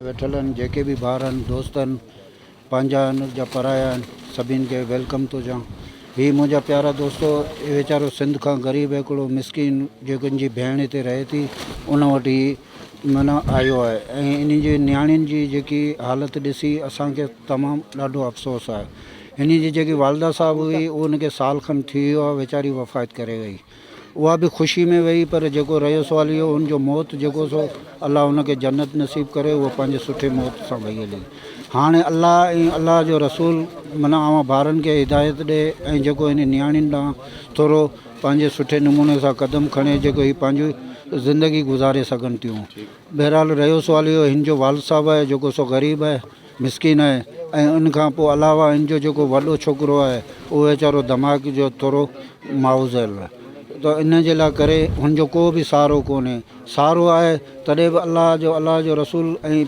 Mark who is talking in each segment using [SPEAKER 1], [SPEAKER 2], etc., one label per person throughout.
[SPEAKER 1] ويٺلن جيڪي به ڀائر آهن دوست آهن پنهنجا آهن جا پرايا آهن سڀين کي ويلڪم ٿو چوان هي منهنجا پيارا دوستو هي ويچارو سنڌ کان غريب هڪڙو مسڪين جيڪو ان جي ڀيڻ هتي رهي ٿي ان وٽ هي معنيٰ آيو آهي ۽ ان جي نياڻين جي جيڪي حالت ڏسي اسان کي تمام ڏاڍو افسوس آهي هن جي جيڪي والده صاحب هئي ان کي سال کن ٿي ويو آهي ويچاري وفات ڪري وئي اها به خوشي ۾ ويئي پر جيڪو رهيو سوال اهو هن جو موت جيڪو سو الله هن کي جنت نصيب ڪري هوء پنهنجي سٺي موت سان وئي هلي هاڻي الله ۽ الله جو رسول من اوهان ڀارن کي هدايت ڏي ۽ جيڪو هن نياڻين ڏانهن ٿورو پنهنجي سٺي نموني سان قدم کڻي جيڪو هي پنهنجي زندگي گذاري سگهن ٿيون بهرحال رهيو سوال اهو هن جو والد صاحب آهي جيڪو سو غريب آهي مسڪين آهي ۽ ان کان پوء علاوه هن جو جيڪو وڏو ڇوڪرو آهي اهو ويچارو دماغ جو ٿورو معوضل آهي ته ان جي لاء ڪري هن جو ڪو به سهارو ڪونهي سهارو آهي تڏهن به الله جو الله جو رسول ۽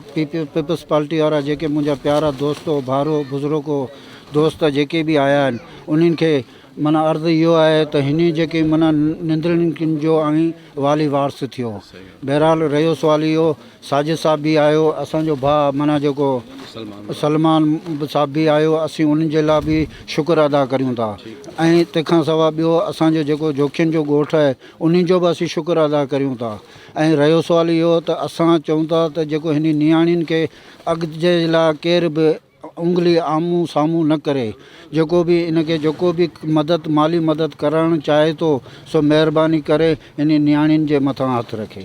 [SPEAKER 1] پيپلز پارٽي وارا جيڪي منهنجا پيارا دوستو ڀائرو بزرگو دوست جيڪي به آيا آهن انهن کي معنيٰ عرض اهو آهي ته هن جيڪي معنيٰ نندرين جو آهين والي وارث ٿيو بهرحال رهيو سوال اهو ساجد صاحب به آيو اسان جو ڀاء معنيٰ جيڪو سلمان صاحب به آيو اسين انهن جي لاء به شڪر ادا ڪريون ٿا ۽ تنهن کان سواء ٻيو اسان جو جيڪو جوکين جو ڳوٺ آهي انهن جو به اسين شڪر ادا ڪريون ٿا ۽ رهيو سوال اهو ته اسان چئون ٿا ته جيڪو هني نياڻين کي اڳتي جي لاء ڪير به اونگلي آمهون سامهون نه ڪري جيڪو به ان کي جيڪو به مدد مالي مدد ڪرڻ چاهي ٿو سو مهرباني ڪري هني نياڻين جي مٿان هٿ رکي.